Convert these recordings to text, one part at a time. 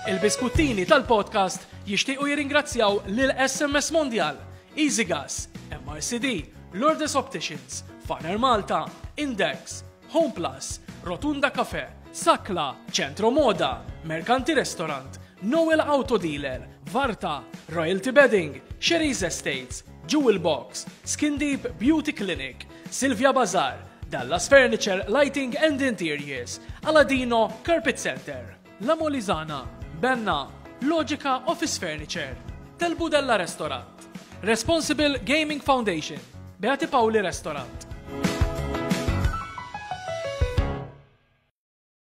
Il-biskuttini tal-podcast jixtiequ jirringrazzjaw lil SMS Mondial, Easy Gas, MRCD, Lourdes Opticians, Farner Malta, Index, Home Plus, Rotunda Cafe, Sakla, Centro Moda, Mercanti Restaurant, Noel Auto Dealer, Varta, Royalty Bedding, Sherry's Estates, Jewel Box, Skin Deep Beauty Clinic, Silvia Bazar, Dallas Furniture, Lighting and Interiors, Aladino, Carpet Center, La Molizana, Benna, Logica Office Furniture, Del Budella Restaurant, Responsible Gaming Foundation, Beati Pauli Restaurant.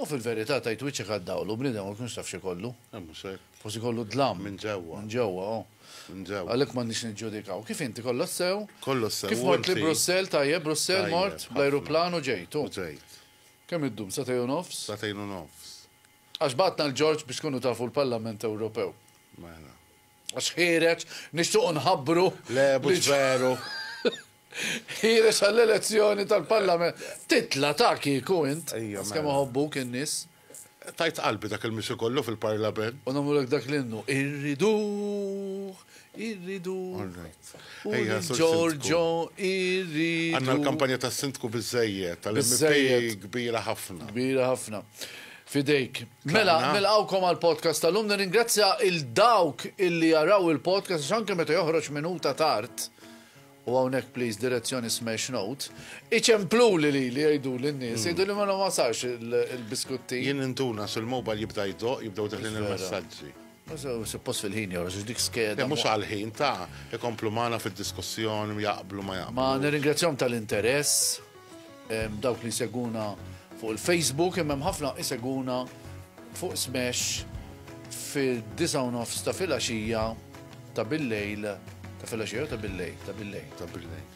U fil-verità tgħid wiċċek għad-dawl u bniedem ma jkunx taf x'ikollu. Le mhux hekk. Forsi jkollu d-dlam. Minn ġewwa. Minn ġewwa, oh. Minn ġewwa. Għalhekk m'għandniex niġġudikaw. Kif inti, kollox sew? Kollox sew, u inti? Kif mort li Brussell, tajjeb, Brussell mort. Tajjeb, ħafna. Bl-ajruplan u ġejt, u? U ġejt. Kemm iddum, sagħtejn u nofs? Sagħtejn u nofs. Għax bagħatna 'l Ġorġ biex tkunu tafu l-Parlament Ewropew. Mela. Għax ħiereġ, nixtuqu nħabbru. Le, mhux veru. Ħiereġ għall-elezzjoni tal-Parlament. Titla' ta' kieku int. Għax kemm mela. iħobbuk in-nies. Tajt qalbi dak il-mixi kollu fil-Parlament. U nagħmlulek dak l-innu. Irriduh, irriduh. Orrajt. Ejja, Ġorġo, irriduh. Għandna l-kampanja tas-Sindku biżejjed, tal-MP kbira ħafna. Kbira ħafna. Fidejk. Mela, nilqawkom għal podcast tal-lum, nirringrazzja il-dawk illi jaraw il-podcast, għax anke meta joħroġ minuta tard, u għawnek please direzzjoni smash note, iċemplu li li li jgħidu l-nis, hmm. jgħidu li ma wasalx il-biskutti. Jien intuna sul-mobile jibda jdoq, jibdaw teħlin il-messagġi. Suppost fil-ħin jora, xiex dik skeda. Mux għal-ħin, ta' ikomplu maħna fil-diskussjoni, jaqblu ma jaqblu. Ma nirringrazzjom tal-interess, dawk li seguna fuq il-Facebook, imma ħafna iseguna fuq smash fil-9 nofs ta' fil-axija ta' bil-lejl, ta' fil-axija ta' bil-lejl, ta' bil-lejl. Ta' bil-lejl.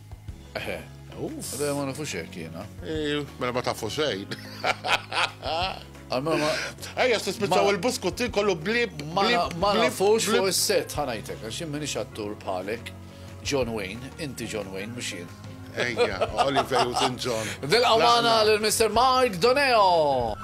Eħe. Għadda ma nafux hekk jiena. Mela ma tafu xejn. Għamma. Ejja, tispiċċaw il-buskutti kollu blib. Ma nafux fuq is-set ħanajtek, għax jien minix attur bħalek. John Wayne, inti John Wayne, mux jien. Ejja, Oliver Newton John. Dil-għamana l-Mr. Mike Doneo.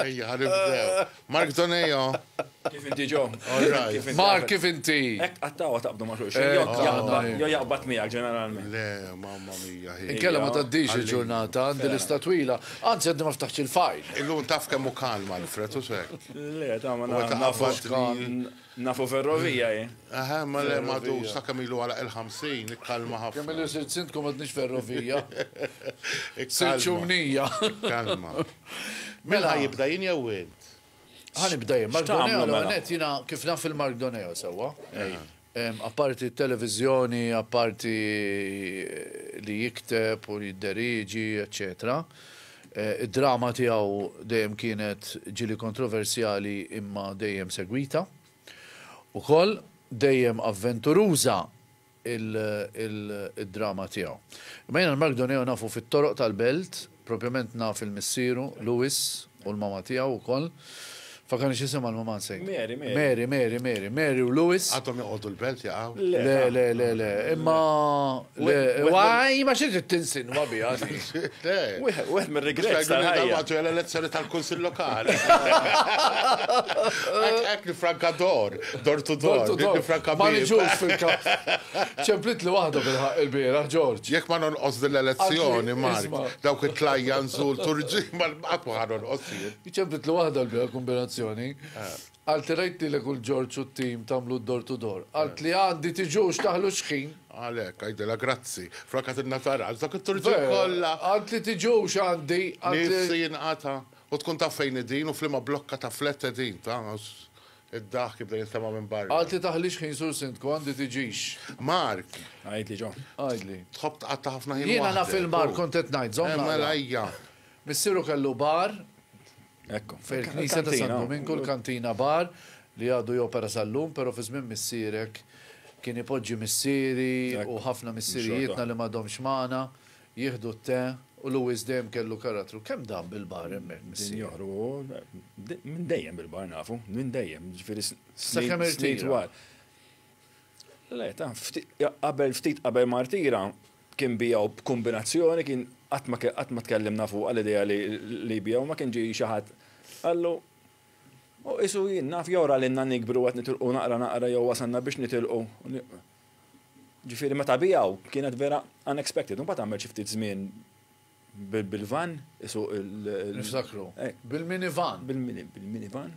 Ejja, ħanibdew. Mark Donejo. Kif inti ġo? Mark, kif inti? Ek għattawa taqbdu ma xulx. Jo jaqbat miegħek ġeneralment. Le, mamma mija. Inkella ma taddix il-ġurnata, għandi lista twila. Anzi, għaddi ma ftaħx il-fajl. Illum taf kemmu kalma l-fretu sekk. Le, ta' ma nafx. Nafu ferrovija hi. Eħe, ma le madu sakemm ilu għalaq il-50, ikkalma ħafna. Kemm ilu sirt sindku m'għadniex ferrovija. Sirt xumnija. Kalma. Min ħa jibda jien jew int? Ħa nibda jien. Mark Doneo l-ewwel nett jiena kif naf il-Mark Doneo sewwa. Apparti t-televiżjoni, apparti li jikteb u li jidderieġi, eċċetera. Id-drama tiegħu dejjem kienet ġieli kontroversjali imma dejjem segwita. Ukoll, dejjem avventuruża id-drama tiegħu. Imma jiena l-Mark Doneo nafu fit-toroq tal-belt, propjament naf il-missieru, Louis, u l-mama tiegħu wkoll. Fakani xisem għal maman sejn. Mary, Mary. Mary, Mary, Mary, Mary u Lewis. Għatom joqodu l-belt jaqaw. Le, le, le, le. Imma. Waj, ma xiex tinsin, ma bija. Wieħed mir regret Għatu jgħal elezzjoni tal-Kunsil Lokali. Ek li franka dor, dor tu dor. Li franka Ma nġux fil-kap. ċemplit li wahda bil-ħak il-bira, Ġorġ. Jek ma nonqos dil-elezzjoni, Mark, dawk it-tlajja nżul turġi, ma l-qatwa ħanon qosir. Ċempitlu waħda l-bira kombinazzjoni. Għaltilgħidt lilek u l-Ġorġ u t-tim tagħmlu d-door to door. Għaltli għandi tiġux taħlu x-xħin. Għalhekk, għidilha grazzi. Flok għatidna taras dak it-turġien kollha. Għaltli tiġux għandi, għaltli. Nifsi jinqata'. U tkun taf fejn qegħdin u f'liema blokka ta' flat qegħdin, taf. Id-daħk jibda jinstema' minn barra. Għaltli taħli x-xħin Sur Sindku, għandi tiġix. Mark. Għidli John. Għidli. Tħobb tqatta' ħafna ħin waħdek. Jiena naf il-Mark kont qed ngħid, żomm naqra. Mela ejja. Missieru kellu bar fil-Knisja ta' San Dominku, l-Kantina Bar, li għadu jopera sal-lum, pero fi żmien missierek kien ipoġġi missieri u ħafna missierijietna li m'għadhomx magħna jieħdu t-te u Louis dejjem kellu karattru. Kemm dam bil-bar hemmhekk missier? Minn dejjem bil-bar nafu, minn dejjem, ġifieri snin twal. Le, ta' qabel ftit qabel martira kien biegħu b'kumbinazzjoni kien qatt ma qatt ma tkellimna fuqha l-idea li li jbiegħu ma kien ġie xi ħadd qallu u qisu jien naf jew ra lilna nikbru qed nitilqu naqra naqra jew wasalna biex nitilqu. Ġifieri meta biegħu kienet vera unexpected. Imbagħad għamel xi ftit żmien Bil-van isuq il-. Niftakru. Bil-minivan. Bil-minivan.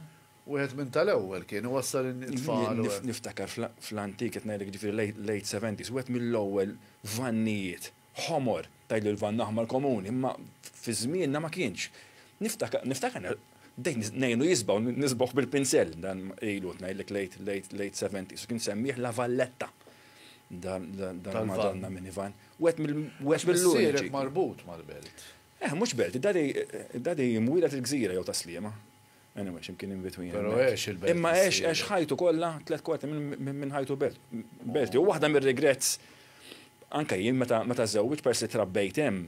Wieħed minn tal-ewwel kien iwassal it-tfal. Niftakar fl-antik qed ngħidlek jiġifieri late seventies, wieħed mill-ewwel vannijiet ħomor, tgħidli l-vann aħmar komuni, imma fi żmienna ma kienx. Niftakar bdejt ngħinu jisbaw, nisbaħ bil-pinsell, dan ilu qed ngħidlek late seventies, u kien semmih la valletta. dal-Madonna minivan. Wet mill-lura. marbut mal-belt. Eh, mux belt, dadi jimwila il-gżira jew taslima. Anyway, ximkien in between. Pero ex il-belt. Imma ex, ex ħajtu kolla, tlet kwarti minn ħajtu belt. Belt, u wahda mir regrets anka jien meta meta żewġ persi trabbejt hemm.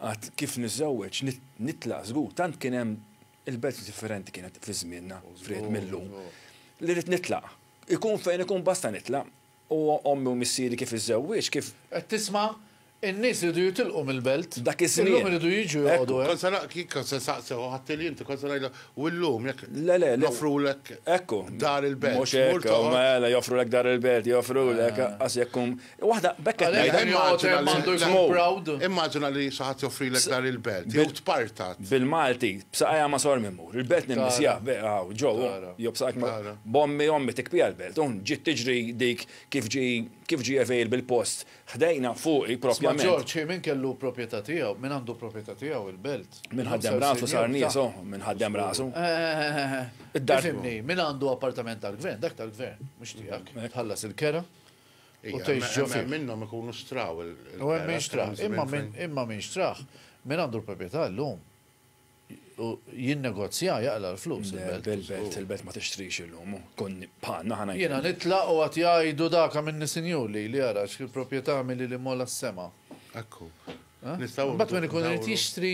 Għad kif niżewġ, nitla żgur, tant kien hemm Il-belt differenti kienet fi żmienna, fried mil-lum. Li rrid nitlaq. Ikun fejn ikun basta nitlaq. U ommi u missieri kif iżżewwieġ, kif. Qed tisma'? In-nies iridu jitilqu mill-belt. Dak iż-żmien. Illum iridu jiġu joqogħdu hemm. Kont se ngħid, kif kont se nsaqsih, ħadtili inti, kont se ngħidlek, u llum jekk. Le, le, le. Joffrulek dar il-belt. Mhux hekk, mela joffrulek dar il-belt, joffrulek, anqas jekk tkun. Waħda, b'hekk qed ngħidha, immaġina li. Immaġina li xi ħadd joffrilek dar il-belt, jew tpartat. Bil-Malti, b'saqajja ma' Sor Mimur, il-belt nimmissja, hawn, ġo, jew b'saqajk ma'. B'ommi, ommi tikpiha l-belt, u ġiet tiġri dik kif ġie, kif ġie available post ħdejna, fuqi propjament. Isma' Ġorġ, min kellu propjetà tiegħu, min għandu propjetà tiegħu il-belt? Min ħaddem rasu sar niesu, min ħaddem rasu. Tifhimni, min għandu appartament tal-gvern, dak tal-gvern, mhux tiegħek. Tħallas il-kera, u tgħix ġo fih. Minnhom ikunu xtraw il. U hemm min xtrah. Imma min xtrah, min għandu l-proprjetà llum u jinnegozja jaqla' l-flus il-belt. Il-belt, il-belt ma tixtrix illum, tkun bħalna aħna. Jiena nitlaq u għad jgħidu dak għamilni sinjur lili ara x'proprjetà għamilli li mgħolla s-sema. Ekku. Imbagħad min ikun irid jixtri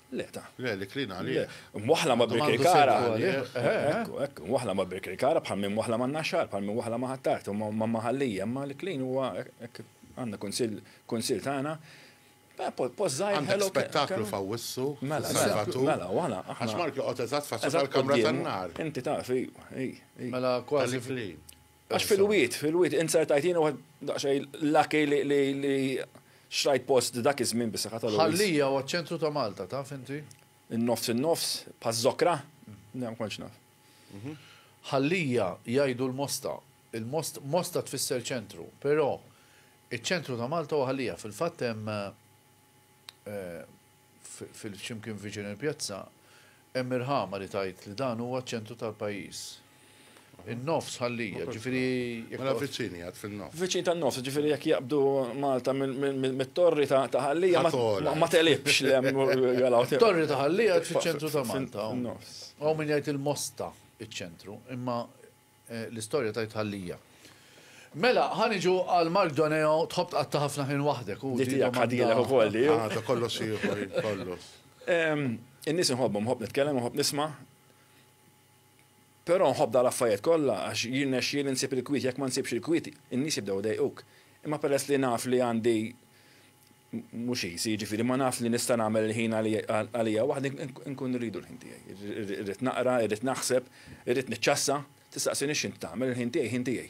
Le, ta. Le, li klina għalih. Mwaħla ma' birkej kara. Ekku, ekku, mwaħla ma' birkej kara bħal minn mwaħla ma' naxar, bħal minn mwaħla ma' ħattart, u ma' maħallija, ma' li klin huwa għanna kunsil, kunsil tagħna. Eh, Pozzaj. Għandek spektaklu fawissu. Mela, mela, mela, għana. Għax Mark joqgħod eżatt faċċa tal-kamra tan-nar. Inti taf, ej, ej. Mela, kważi fli. Għax fil-wit, fil-wit, inzertajt jiena waħed daqsxejn lucky li xrajt post dak iż-żmien bis-saħħa tal Ħallija huwa ċentru ta' Malta, taf inti? In-nofs in-nofs, paż-Żokra, ma kontx naf. Mhm. Ħallija jgħidu l-Mosta, il-Most, Mosta tfisser ċentru, però iċ-ċentru ta' Malta huwa Ħallija. Fil-fatt hemm eh, x'imkien viċin il-pjazza, hemm irħama li tgħid li dan huwa ċ-ċentru tal-pajjiż. In-nofs ħallija, ġifieri jekk. Mela viċin jgħid fin-nofs. Viċin tan-nofs, ġifieri jekk jaqbdu Malta mit-torri ta' Ħallija ma tegħlibx le hemm. Torri ta' Ħallija qed fiċ-ċentru ta' Malta. Hawn min jgħid il-Mosta iċ-ċentru, imma L-istorja tgħidha l-hija. Mela, ħa niġu għal Mark Doneo, tħobb tqatta' ħafna ħin waħdek. Di tiegħek ħadilek ukoll di. Ah, ta' kollox ieħor, kollox. In-nies inħobbhom, nħobb nitkellem, nħobb nisma'. Però nħobb dal affarijiet kollha għax jirnexxieli nsib il-kwiet, jekk ma nsibx il-kwiet, in-nies jibdew idejquk. Imma peress li naf li għandi mhux easy, jiġifieri ma nafx li nista' nagħmel il-ħin għalija waħdi, inkun irridu l-ħin tiegħi. Irrid naqra, irrid naħseb, irrid niċċassa. Tistaqsini x'int tagħmel, il-ħin tiegħi ħin tiegħi.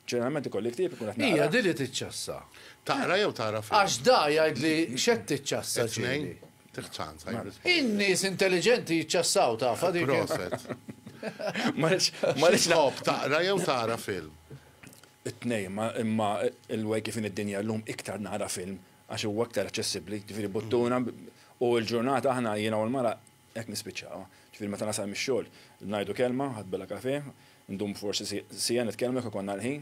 Ġeneralment ikolli ktieb inkun qed naqra. Hija din li tiċċassa. Taqra jew tara film? Għax da jgħidli x'qed tiċċassa ġieli. Tieħ ċans. In-nies intelliġenti jiċċassaw tafha dik. Proset. Ma rridx. X'tħobb taqra jew tara film? it-tnejn imma il-way kif inhi d-dinja llum iktar nara film għax huwa iktar aċċessibbli, ġifieri buttuna u l-ġurnata aħna jiena u l-mara hekk nispiċċawha. Ġifieri meta nasal mix-xogħol ngħidu kelma, ħadd bella kafè, ndum forsi siegħa nitkellmu jekk ikollna l-ħin,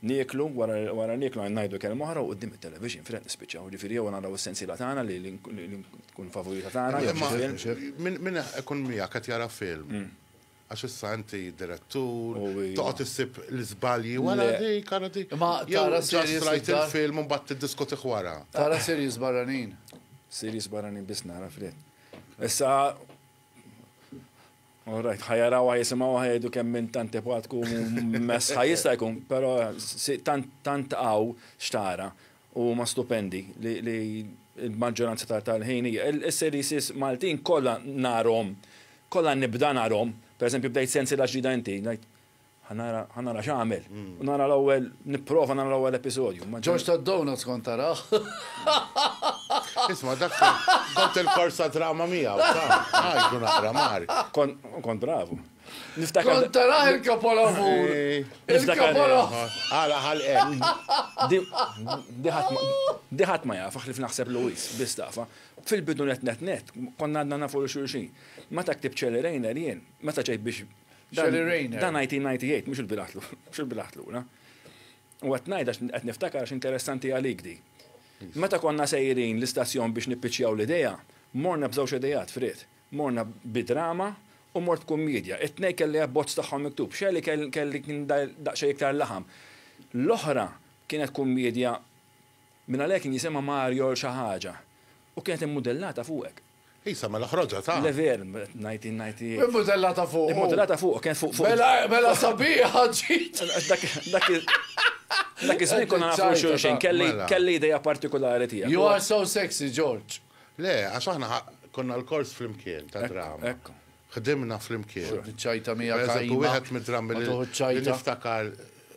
nieklu, wara nieklu ngħidu kelma oħra u quddiem it-television fil-għeq nispiċċaw. Ġifieri jew naraw is-sensiela tagħna li tkun favorita tagħna jew xi film. Min ikun miegħek qed jara film. Għax issa inti direttur, toqgħod issib l-iżbalji wara dik, ara dik. Imma tara series barranin. Rajt il-film u mbagħad tiddiskutih wara. Tara series barranin. Series barranin biss nara fred. Issa Alright, ħajaraw ħajisimgħu ħajdu kemm minn tant ipatku mess ħajista jkun, però tant tant qaw xtara. u huma stupendi li l-maġġoranza tal-ħin hija. Is-series Maltin kollha narhom, kollha nibda narhom, pereżempju bdejt sensiela ġdida inti, ngħid ħanara x'għamel. Mm. U nara l-ewwel nipprova nara l-ewwel episodju. Ġorġ tad-donuts kont taraħ. Isma' dak kont il-korsa drama miegħu, ta' nara mar. Kont bravu. Niftakar. Kont tara il-kapolavur. Il-kapolavur. Għala ħalqek. Diħat ma jafa ħlif naħseb Luis, biss tafa. Fil-bidu net net net, konna għadna nafu li xulxin. Meta ktib ċeli rejner jien, meta ċejt biex. Ċeli rejner. Dan 1998, mux il-bilaħtlu, mux il-bilaħtlu, na. U għatnajda għat niftakar għax interessanti għalik di. Meta konna sejrin l-istazzjon biex nippiċjaw l-ideja, morna bżawx idejat frit. Morna bi drama u mort kummiedja. It-tnejn kelli abbozz tagħhom miktub. Shirley kelli kien daqsxejn iktar laħam. L-oħra kienet kummiedja mingħalhekk kien jisimha Mariol xi ħaġa u kienet immudellata fuqek. Isa, mela ħroġha ta. Le veru, ngħid ngħid hi. Immudellata fuqu. Immudellata fuqu, kienet fuq fuq. Mela mela sabiħa ġid. Għax dak dak dak iż-żmien konna nafu xulxin, kelli kelli idea partikulari tiegħek. You are so sexy, George. Le, għax aħna konna lkoll flimkien ta' drama. Ħdimna flimkien. Xorb iċ-ċajta miegħek għajma. Pereżempju wieħed mid-drammi li niftakar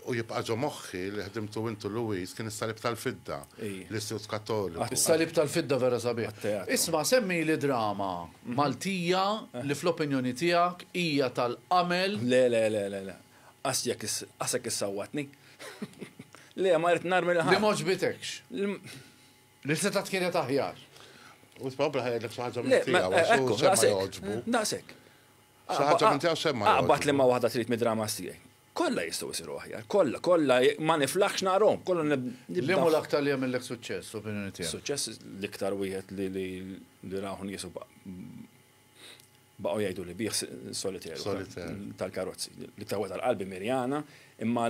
u jibqa' ġo moħħi li ħdimtu int u Louise kien is-Salib tal-Fidda, l-Istitut Kattoliku. Is-Salib tal-Fidda vera sabiħ. Isma' semmili drama Maltija li fl-opinjoni tiegħek hija tal-qamel. Le, le, le, le, le. Għax jekk għax hekk issawwatni. Le, ma rrid narmi l-ħadd. Li m'għoġbitekx. Li setgħet kienet aħjar. U tbabla ħajdlek xi ħaġa minn tiegħu għax hu semma jogħġbu. Daqshekk. Xi ħaġa minn tiegħu semma jogħġbu. Aqbad li ma waħda trid mid-dramas tiegħi. Kollha jistgħu jsiru aħjar, kollha, kollha ma niflaħx narhom, kollha nibda. Liema l-aktar li jagħmillek suċċess, opinjoni tiegħek? Suċċess l-iktar wieħed li raw nies u baqgħu jgħidu li bih solitaire tal-karozzi. L-iktar wieħed tal-qalbi Mirjana, imma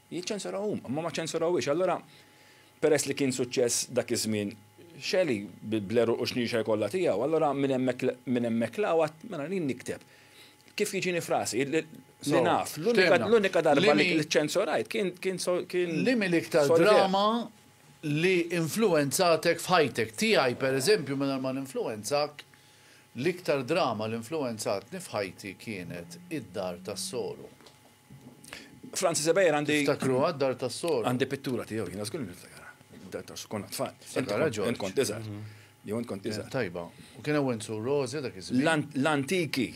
Jiċċensuraw huma, imma ma ċensurawhiex. Allura, peress li kien suċċess dak iż-żmien, Shelley bl-għeruq u xnixa jkollha tiegħu, allura minn hemmhekk minn hemmhekk 'l hawn għadt mela jien nikteb kif jiġini f'rasi, li naf. L-unika darba li ċċensurajt kien kien kien. Liema l-iktar drama li influwenzatek f'ħajtek? Tiegħi pereżempju mingħajr ma ninfluwenzak, l-iktar drama li nfluwenzatni f'ħajti kienet Id-Dar tas-Soru. Francis Ebejer għandi. Tiftakru għad dar ta' sor. Għandi pittura tiegħu, jina zgur niftakara. Dar ta' konna tfal. Sakara ġo. Kont iżgħar. Mhm. Jew int kont iżgħar. Tajba. U kien hawn su Rozi dak iż-żmien. L-antiki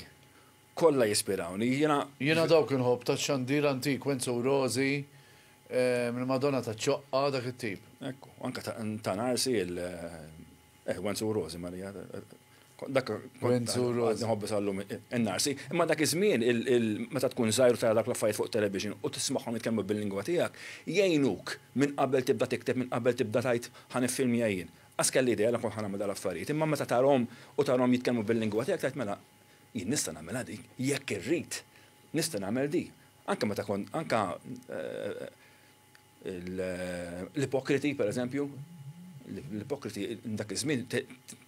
kollha jispirawni. Jiena jiena dawk inħobb ta' xandir antik Wenzu Rozi eh, mill-Madonna ta' ċoqqa dak it-tip. Ekku, anka ta' narsi il eh, Wenzu Rozi Marija Dak Wenzuru. Nħobbi sal-lum in-narsi. Imma dak iż-żmien meta tkun żgħir tara dak l-affarijiet fuq television u tismagħhom jitkellmu bil-lingwa tiegħek, jgħinuk minn qabel tibda tikteb, minn qabel tibda tgħid ħa niffilmja jien. Qas kelli idea li kont ħa nagħmel dal-affarijiet, imma meta tarahom u tarahom jitkellmu bil-lingwa tiegħek tgħid mela jien nista' nagħmilha din, jekk irrid nista' nagħmel din. Anke meta kont anke L-ipokriti, per eżempju, l-ipokriti dak iż-żmien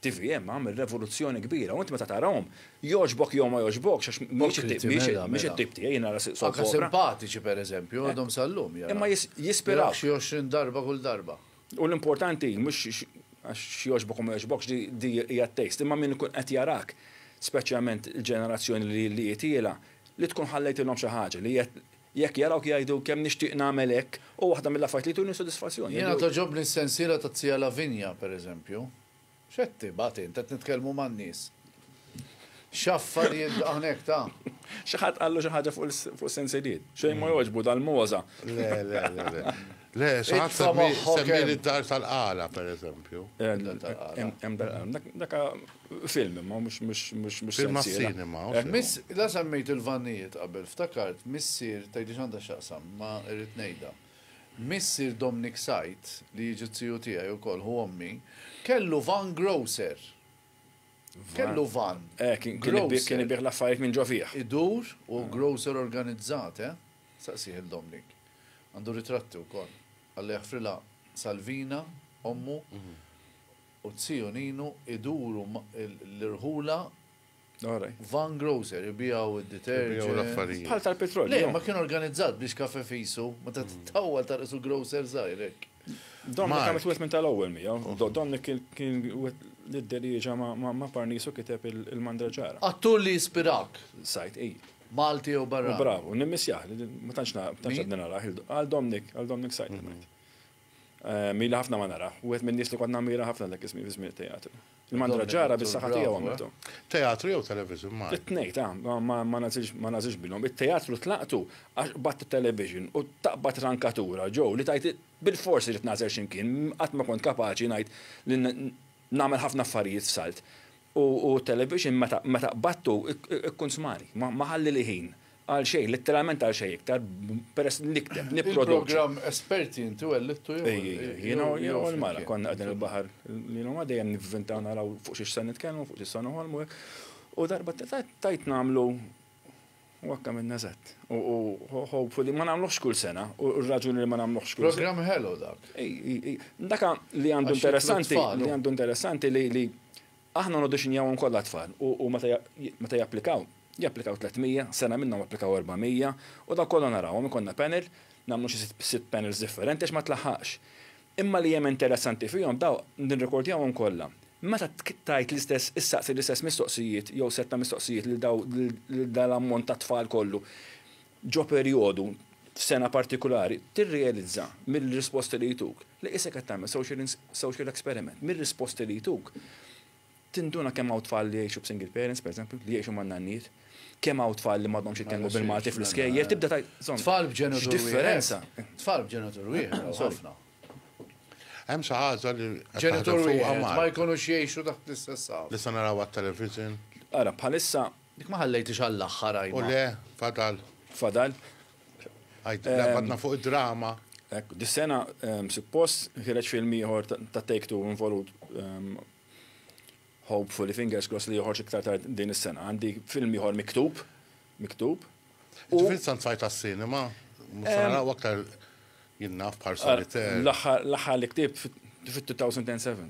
TVM għamel revoluzzjoni kbira, u int meta tarahom, jogħġbok jew ma jogħġbokx għax mhix it-tip mela, mela. tiegħi jiena nara siq Anke simpatiċi pereżempju eh. għadhom sal-lum jara. Imma jispiraw. Xi 20 darba kull darba. U l-importanti mhux għax jogħġbok u ma jogħġbokx di hija t-taste, imma min ikun qed jarak, speċjalment il-ġenerazzjoni li li jitiela, li tkun ħallejtilhom xi ħaġa li Jekk jarawk jgħidu kemm nixtieq nagħmel hekk, hu waħda mill-affarijiet li jtuni sodisfazzjon. Jiena togħġobni s-sensiela ta' Zia Lavinia, per eżempju. X'qed tibgħat int, qed nitkellmu man-nies. X'affarijiet dawn hekk ta'. Xi ħadd qallu xi ħaġa fuq is-sensiliet? Xejn ma jogħġbu dal-mogħża. Le, le, le, le. Le, saħat semmili d-dar tal-qala, per eżempju. Daka film, ma mux mux mux mux. Film cinema. Miss, la semmejt il-vannijiet qabel, ftakart, missir, tajdi xanda xaqsam, ma irrit nejda. Missir Dominic Sajt, li jiġi t-tiju tijaj u kol, hu ommi, kellu van grocer. Kellu van. Eh, kien bieħ la fajt minn ġofiħ. Idur u grocer organizzate. Saqsih il-Domnik. Għandu ritratti wkoll. Alla jaħfrilha Salvina, ommu, u t-tiju Ninu iduru l-irħula van grocer, ibiegħu d-deterġent. Bħal tal-petrol. Le, ma kien organizzat biex kafe fisu, ma ta' tawwal ta' isu grocer żgħir hekk. Domnik għamlet wieħed minn tal-ewwel miegħu. Domnik kien l-idderieġa ma' parnisu kiteb il-mandraġara. Attur li jispirak. Sajd, ej. Malti u barrani. Bravu, nimmissjah, ma tantx għadni narah, għal Domnik, għal Domnik Sajt ngħid. Eh, Mili ħafna ma nara, u għet minn nis li kont namira ħafna dak ismi fi żmien teatru. Il-mandra ġara bis saħħa tiegħu għamiltu. Eh? Teatru jew television ma? It-tnejn ta' ma nażilx bilhom. It-teatru tlaqtu għax bat television u taqbad rankatura ġew li tajt bil-forsi li tnażel x'imkien qatt ma kont kapaċi ngħid li Nagħmel ħafna affarijiet f'salt u t-television meta qbadtu jkun smali. Ma ħallili ħin għal xejn, litteralment għal xejn iktar, peress li nikteb, nipproduċi. Il-programm Esperti inti wellidtu jew? Ejj, jiena u l-mara konna qegħdin il-baħar lil huma dejjem nivvintaw naraw fuq xiex se nitkellmu, fuq xiex se noħolmu hekk. U darba tajt nagħmlu. U hekk għamilna eżatt. U hopefully ma nagħmluhx kull sena, u r-raġuni li ma nagħmluhx kull sena. Programm ħelu dak. Dak li għandu interessanti, li għandu interessanti li aħna nodisinjawhom kollha tfal u meta japplikaw, japplikaw 300, sena minnhom applikaw 400, u dawk kollha narawhom, ikollna panel, nagħmlu xi sitt panels differenti għax ma tlaħħaqx. Imma li hemm interessanti fihom dawk nirrekordjawhom kollha. Meta tgħid l-istess issaqsi l-istess mistoqsijiet jew sett ta' mistoqsijiet lil daw lil dan l-ammont ta' tfal kollu ġo perjodu f'sena partikulari tirrealizza mill-risposti li jtuk li qisek qed tagħmel social social experiment mir-risposti li jtuk Tinduna kemm hawn tfal li jgħixu b'single parents, pereżempju, li jgħixu man-nannijiet, kemm hawn tfal li m'għadhomx jitkellmu bil-Malti fl-iskejjel, tibda tgħid, insomma, Tfal b'ġenitur wieħed. x'differenza! Tfal b'ġenitur wieħed hawn ħafna. Hemm xi ħaġa li qed taħdem fuqha Malti. Ġenitur wieħed ma jkunux jgħixu taħt l-istess għaw. Li se naraw għat-television. Ara, bħalissa. Dik ma ħallejthiex għall-aħħar, Ajma. U le, fadal. Fadal. Għadna fuq id-drama. Ekk, dis-sena suppost ħireġ film ieħor ta' Take Two involut hopefully fingers crossed li joħorġ iktar tard din is-sena. Għandi film ieħor miktub, miktub. U fil sant sajt għas-sinema, naraw aktar jinnaf bħal solitaire. L-aħħar li ktib fit-2007.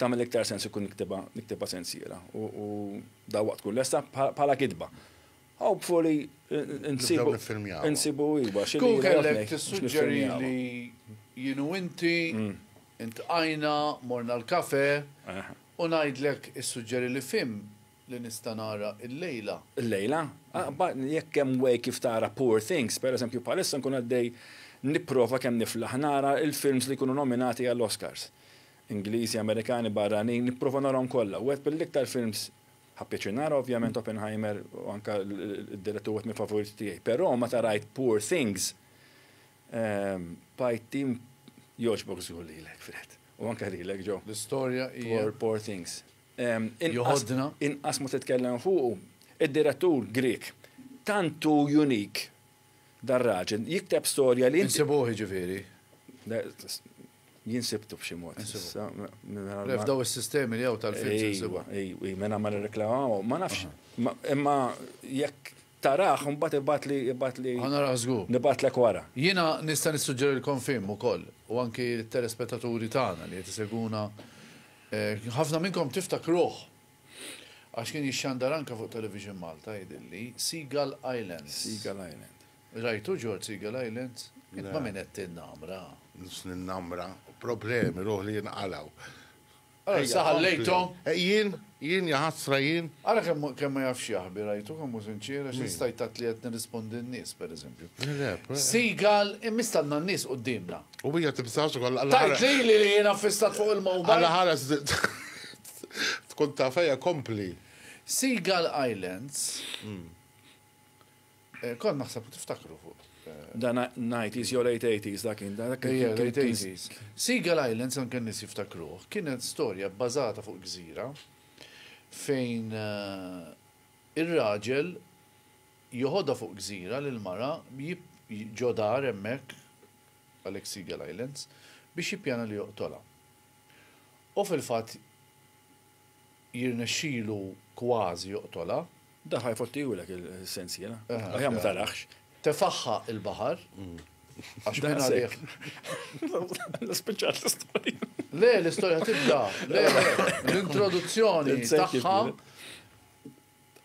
tagħmel iktar sens ikun niktibha niktibha sensiela u dawwaqt tkun lesta bħala kitba. Hopefully insibu insibu iva xi Kun kellek tissuġġeri li jienu inti mm. intqajna morna l-kafe eh. u ngħidlek issuġġeri li fim li nista' nara illejla. Illejla? Jekk hemm way kif tara Poor Things, pereżempju bħalissa nkun għaddej nipprova kemm niflaħ nara l-films li jkunu nominati għall-Oscars. Ingliżi, Amerikani, barranin, nipprova narahom kollha. Wieħed mill-iktar films, ħa pjaċir nara ovvjament Oppenheimer u anke d-direttur wieħed mill-favoriti tiegħi. Però meta rajt Poor Things, bqajt jogħġbok żgur lilek Fred. U anke lilek Joe. L-istorja hija. Poor Things. Joħodna. Inqas ma titkellem fuqu. Id-direttur Grieg. Tant hu unique dar-raġel. Jikteb storja li. Insibuh jiġifieri. Jien sibtu b'xi mod. Le f'daw is-sistemi li hawn tal-films insibuh. Ejwa, ejwa, minn hawn ma nirreklamaw. Ma nafx. Imma jekk Tarah u mbagħad ibgħatli, ibgħatli. Ħa narah żgur. Nibgħatlek wara. Jiena nista' nissuġġerilkom film ukoll, u anki lit-telespettaturi tagħna li qed isegwuna, ħafna minnkom tiftakruh għax kien jixxandar anke fuq Television Malta jidhirli, Seagull Islands. Seagull Island. Rajtu George Seagull Islands? Le. Int ma' min qed tinnamra? Mhux ninnamra. Problemi ruħli jinqalgħu. Ara issa ħallejthom. Jien, jien, jaħasra jien. Ara kemm kemm ma jafx jaħbi, rajtu kemm hu sinċier, għax jista' jtgħid li qed nirrispondi n-nies, pereżempju. Seagal, immiss għandna n-nies quddiemna. U hija tibżax ukoll alla ħares. Tgħid lili li jiena ffissat fuq il-mowbajl? Alla ħares tkun taf, ejja kompli. Seagal Islands. Eh, kont naħseb tiftakru fuq. Eh, dan 90s jew late 80s dak kien dan late 80s. Seagull Islands anke nies jiftakruh kienet storja bbażata fuq gżira fejn eh, ir-raġel joħodha fuq gżira lil mara ġodar hemmhekk għalhekk Seagull Islands biex jippjana li joqtolha. U fil-fatt jirnexxilu kważi joqtolha. Dan ħa jfottihulek is-sensiela. Aħjar ma tarax. Tefagħha il-baħar għax minn għalih. Spiċċat l-istorja. Le, l-istorja tibda. Le, l-introduzzjoni tagħha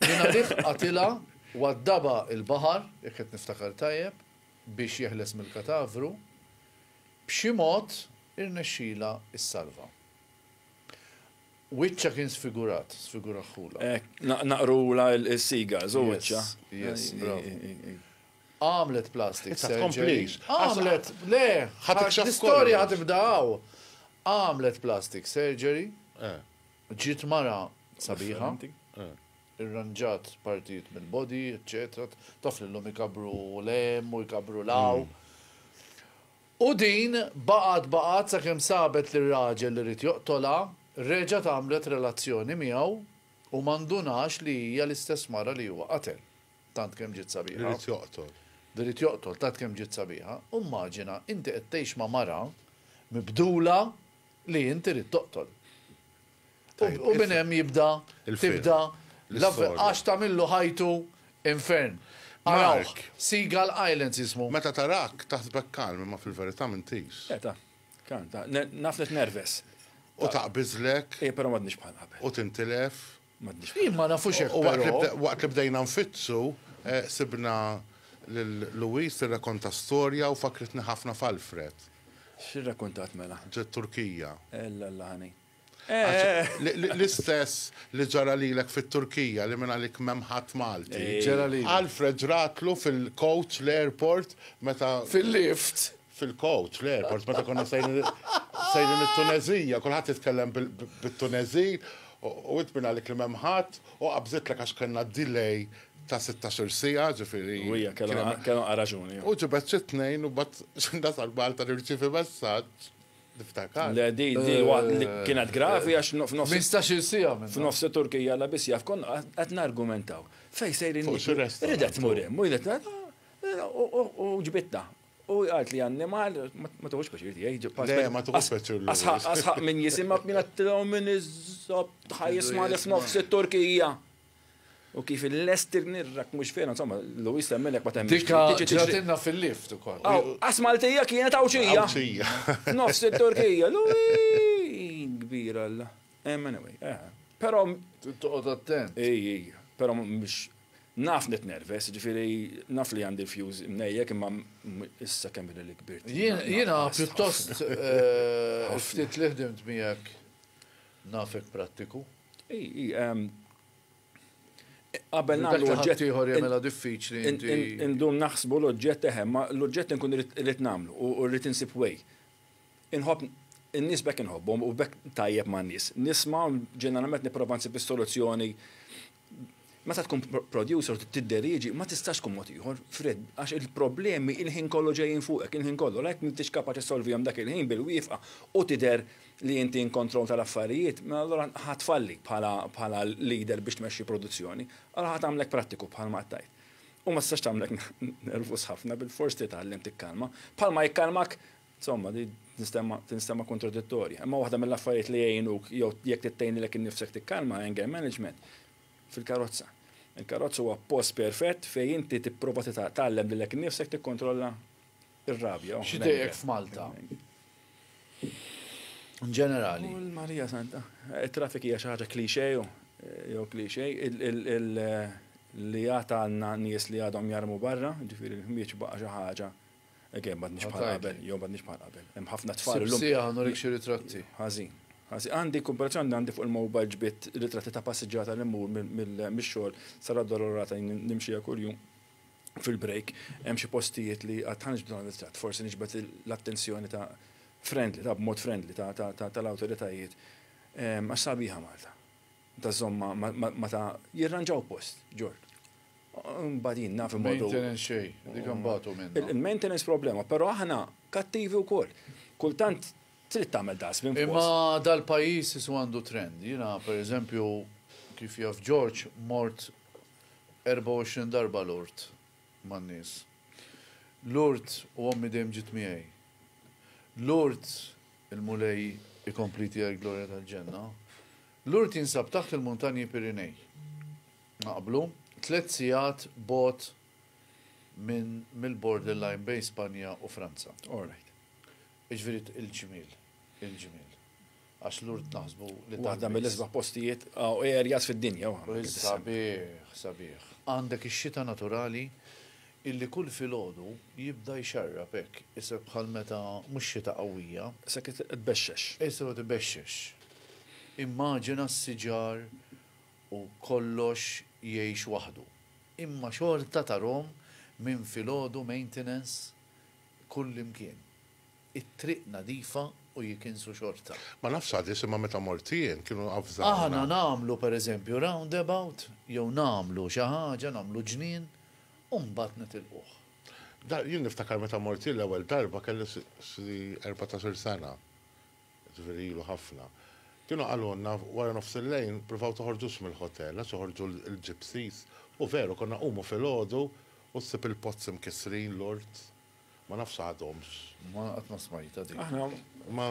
minn għalih qatilha waddaba il-baħar, jekk qed niftakar tajjeb, biex jeħles mill-katavru, b'xi mod irnexxilha issalva. Wiċċha kien sfigurat, sfiguraħħulha. Hekk, naqrulha s-seagulls u wiċċha. Yes, yes, bravu. Għamlet plastic surgery. Issa tkomplix. Għamlet, le, l-istorja ħad tibda hawn. Għamlet plastic surgery. Eh. Ġiet mara sabiħa. Eh. Irranġat partijiet mill-body, eċċetera. Taf lilhom ikabru l-hemm u jkabru l-hawn. Hmm. U din baqgħet baqgħet sakemm sabet li r-raġel li ried joqtolha reġgħet għamlet relazzjoni miegħu u ma ndunax li hija l-istess mara li huwa qatel. Tant kemm ġiet sabiħa. Li ried joqtol. Li ried joqtol, tant kemm ġiet sabiħa. Immaġina inti qed tgħix ma' mara mibdula li inti ried toqtol. U minn hemm jibda, tibda, l-avve, għax tagħmillu ħajtu infern. Arawh, Seagull Islands jismu. Meta tarak, taħsbek kalm, imma fil-verità mintis. Eh, ta, kalm, ta, ne, naf li tnerves. U taqbiżlek. Eh, però m'għadniex bħal qabel. U tintilef. M'għadniex bħal. Jien ma nafux hekk, però. U waqt li bde- waqt li bdejna nfittsu, eh, sibna lil Louise tirrakonta storja u fakkritni ħafna f'Alfred. X'irrakontat mela? Ġiet Turkija. Ella, ella, ħani. L-istess li ġara lilek fit-Turkija li mingħalik m'hemm ħadd Malti. Ġara lili. Alfred ġratlu fil-coach l-airport meta. Fil-lift. Fil-coach l-airport meta konna sejrin it-Tuneżija, kulħadd jitkellem bit-Tuneżin u int mingħalik li m'hemm ħadd u qabżitlek għax kellna delay ta' sittax-il siegħa, ġifieri. U hija kellha raġuni. U ġibed xi tnejn u mbagħad xi nasal Malta nirċievi messaġġ. Niftakar. Le, di, di, wa- Eh, li kienet gravi għax no- f'nofs. 15-il siegħa minn. F'nofs Turkija la biss jaf konna qed nargumentaw. Fej sejrin Fuq xi restaurant. Ridet tmur hemm, u jdet u- u- u ġbitna. U għalt li annimal, ma ma tuħux pjaċir tiegħi. ġib- Le, ma tuħux as- pjaċir l-ewwel. Asħaq, asħaq minn jisimha b'mina t-tilaw minn iż-żob tħajjis ma li f'nofs it-Turkija. U kif il-lesti nirrak mux fena, insomma, Luis temmen jek ma temmen. Dika ġratinna fil-lift u koll. Għas Maltija kienet għawċija. Għawċija. Nofs il-Turkija, Luis! Kbir għalla. Emmen għaj. Eh. Pero. Tuqot attent. Ej, ej. Pero mux naf net nerves, ġifiri naf li għandi fjuz mnejjek imma issa kemm li kbir. Jena pjuttost eh, ftit li ħdimt miegħek nafek prattiku. Qabel nagħmlu oġġett. Dak li ħaddieħor jagħmilha diffiċli inti. Indum naħsbu l-oġġett eħe, ma l-oġġett inkun irrid nagħmlu u rrid insib way. Inħobb in-nies bekk inħobbhom u bekk tajjeb man-nies. Nisma' ġeneralment nipprova nsib is-soluzzjoni Meta tkun producer u tidderieġi ma tistax tkun mod ieħor, Fred, għax il-problemi il-ħin kollu ġejjin fuqek, il-ħin kollu, la jekk m'intix kapaċi ssolvihom dak il-ħin bil-wieqfa u tidher li inti in control tal-affarijiet, mela allura ħa tfalli bħala leader biex tmexxi produzzjoni, allura ħa tagħmlek prattiku bħalma qed tgħid. U ma tistax tagħmlek nervuż ħafna, bilfors titgħallem tikkalma, bħalma jikkalmak Insomma, din tinstema' kontradittorja. Imma waħda mill-affarijiet li jgħinuk jew jekk trid tgħinilek innifsek tikkalma anger management fil-karozza. Il-karozza huwa post perfett fejn inti tipprova titgħallem lilek innifsek tikkontrolla r-rabja. X'idejjek f'Malta? In ġenerali. Kull Marija Santa. It-traffic hija xi ħaġa cliché jew cliché li għad għandna nies li għadhom jarmu barra, ġifieri l-ħmieġ baqa' xi ħaġa Again, ma tnix bħal qabel, jo ma tnix bħal qabel. Hemm ħafna tfal. Sija għandu rik xi ritratti. Ħażin. Ħażin. Għandi komparazzjoni għandi fuq il-mobile ġbit ritratti ta' passiġġata li mmur mill-xogħol sara dolorata nimxija kuljum fil-break hemm xi postijiet li għad ħanġ b'dan ritratt, forsi niġbed l-attenzjoni ta' friendly, ta' b'mod friendly tal-awtoritajiet. Għax sabiħa Malta. ta' żomma ma ta' jirranġaw post, ġort. Mbagħad jien naf imma. Maintenance xejn, dik imbagħtu minn. Il-maintenance problema, però aħna kattivi wkoll. Kultant trid tagħmel dustbin. Imma dal-pajjiż isu għandu trend. Jiena pereżempju kif jaf Ġorġ mort 24 darba Lourdes man-nies. Lourdes u ommi dejjem ġiet miegħi. Lourdes Il-Mulej ikompli tiegħi l-glorja tal-ġenna. Lourdes jinsab taħt il-Muntanji Pirinej. Naqblu, tliet sigħat bogħod minn mill-borderline bejn Spanja u Franza. All right. Jiġifieri il-ġmiel, il-ġmiel. Għax Lourdes naħsbu li waħda mill-isbaħ postijiet u areas fid-dinja. Sabiħ, sabiħ. Għandek ix-xita naturali Illi kull filgħodu jibda jxarrab hekk, isek bħal meta mhux xita qawwija. Isek qed ibexxex. Isek qed ibexxex. Immaġina s-siġar u kollox jgħix waħdu. Imma xorta tarahom minn filgħodu maintenance kullimkien. it-triq nadifa u jikinsu xorta. Ma nafx għadiex imma meta mort jien kienu avżawna. Aħna nagħmlu per eżempju roundabout jew nagħmlu xi ħaġa nagħmlu ġnien u mbagħad nitilquh. Da jien niftakar meta mort jien l-ewwel darba kelli xi erbatax-il sena, jiġifieri ilu ħafna. Kienu qalulna wara nofs il-lejl pruvaw toħorġux mill-ħotel għax joħorġu l-gypsies u veru konna qumu filgħodu u ssib il-pozzi mkissrin, l-ort. Ma nafx għadhomx. Ma qatt ma smajta dik. Aħna ma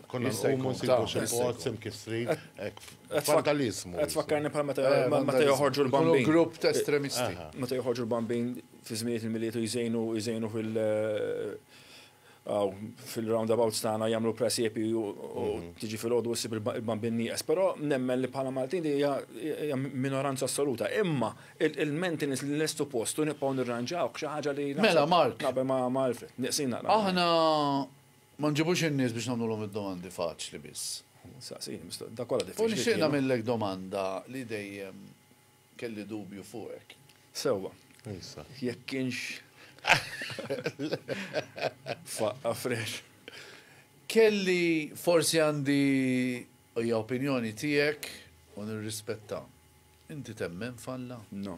konna nsibu nsibu xi post imkissrin hekk vandaliżmu. Qed tfakkarni bħal meta eh, meta joħorġu l-bambin. Grupp ta' estremisti. Eh, eh. Meta joħorġu l-bambin fi żminijiet il-miliet u jżejnu jżejnu fil- fil-roundabouts tagħna jagħmlu presiepi u mhm. tiġi fil-għodu ssib il-bambin nieqes. Però nemmen li bħala Maltin hija minoranza assoluta. Imma Il-maintenance li lestu post u nibqgħu nirranġawh xi ħaġa li Mela Mark. Naqbel ma' Alfred, nieqsin naqra. Aħna ma nġibux in-nies biex nagħmlulhom id-domandi faċli biss. Saqsi, da kollha diffiċli. U nixtieq nagħmillek domanda li dejjem kelli dubju fuqek. Sewwa. Jekk kienx faqqa fresh. Kelli forsi għandi hija opinjoni tiegħek u nirrispettha. Inti temmen f'Alla? No.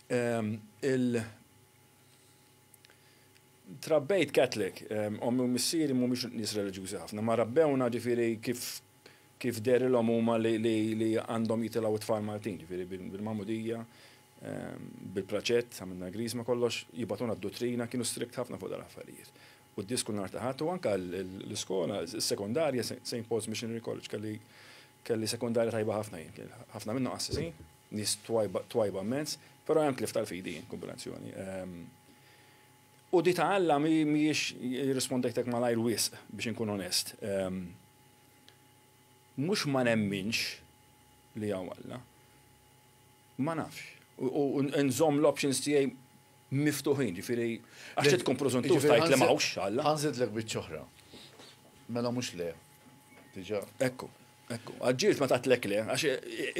Il Trabbejt Catholic, ommi u missieri mhumiex nies reliġjużi ħafna, ma rabbewna ġifieri kif kif dehrilhom huma li li għandhom jitilgħu t-tfal Maltin, ġifieri bil-magħmudija, bil-praċett, għamilna l-griżma kollox, jibgħatuna d-duttrina, kienu strict ħafna fuq dal-affarijiet. u d-dies kull nhar ta' Ħadd u anke l-iskola, is-sekondarja, Saint Paul's Missionary College, kelli kelli sekondarja tajba ħafna jien, kien ħafna minnhom qassisin, nies twajba twajba mmens, però hemm tlif tal-fidi jien, kombinazzjoni. U di ta' Alla mhijiex irrispondejtek malajr wisq biex inkun onest. Mhux ma nemminx li hawn Alla. Ma nafx. U nżomm l-options tiegħi miftuħin, ġifieri għax trid tkun preżuntur tgħid li m'hawnx Alla. Ħa nżidlek biċċa oħra. Mela mhux le. Diġà. Ekku, ekku. Aġġielx ma tgħidlek le, għax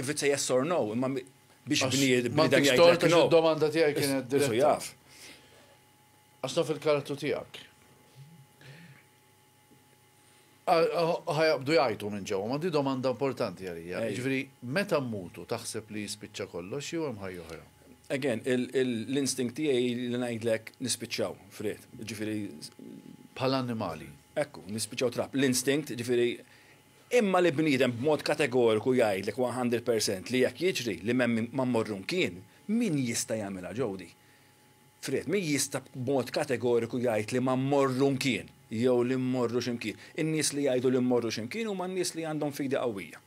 if it's a yes or no, imma biex bniedem jgħidlek no. Domanda tiegħi kienet diretta. Għax naf il-karattru tiegħek. Ħa jaqbdu jgħajtu minn ġewwa, ma di domanda importanti għalija. Jiġifieri meta mmutu taħseb li jispiċċa kollox jew hemm ħajja oħra? Again, l-instinct tiegħi li ngħidlek nispiċċaw f'ried. Jiġifieri. Bħala annimali. Ekku, nispiċċaw trab. L-instinct, jiġifieri, imma li bniedem b'mod kategoriku jgħidlek one hundred percent li hekk jiġri, li m'hemm ma mmorru mkien, min jista' jagħmilha Jody? Fred min jista' b'mod kategoriku jgħid li ma mmorru mkien jew li mmorru xi mkien? In-nies li jgħidu li mmorru xi mkien huma n-nies li għandhom fidi qawwija.